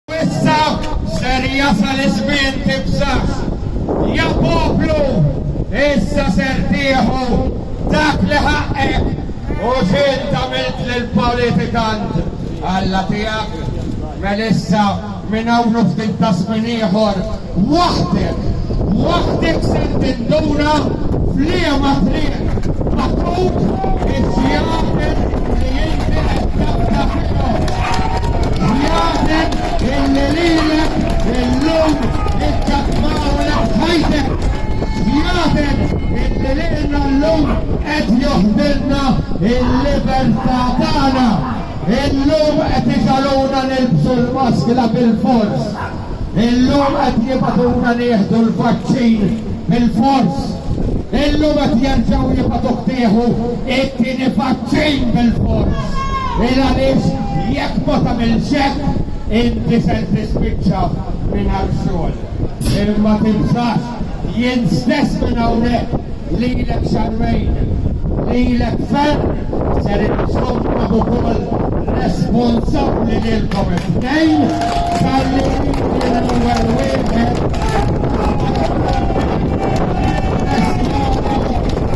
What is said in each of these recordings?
Issa ser jasal iż-żmien tibżax, ja poplu, issa ser tieħu dak li ħaqqek u x'int għamilt lill-politikant Alla tiegħek. Mel issa minn hawn u ftit taż-żmien ieħor Waħdek, waħdek ser tinduna f'liema triq magħtut iż-żjaden li inti qed taqta' fihom. Żjaden illi lilek illum iċċattmawlek ħajtek. Żjaden illi lilna llum qed joħdilna l-libertà tagħna. Illum qed iġagħluna nilbsu l-maskla bilfors. Illum qed jibagħtuna nieħdu l-vaċċin bil-fors. Illum qed jerġgħu jibagħtuk tieħu t-tieni vaċċin bil-fors. Il għaliex jekk ma tagħmilx hekk, inti ser tispiċċa mingħajr xogħol. Imma tinsax! Jien stess minn hawnhekk lilek xahrejn, lilek ferm ser insomkom ukoll responsabbli lilkom it-tnejn talli inti l-ewwel wieħed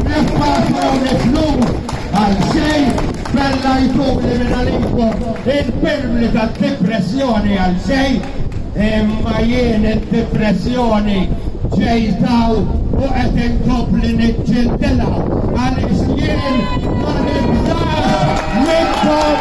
Niffaċċawni flus għal xejn bella jtuli minn għalikom il-pirmli tad-dipressjoni għal xejn Imma jien id-dipressjoni ġejtha u qed inkompli niġġildilha għaliex jien ma nibżax minnkom!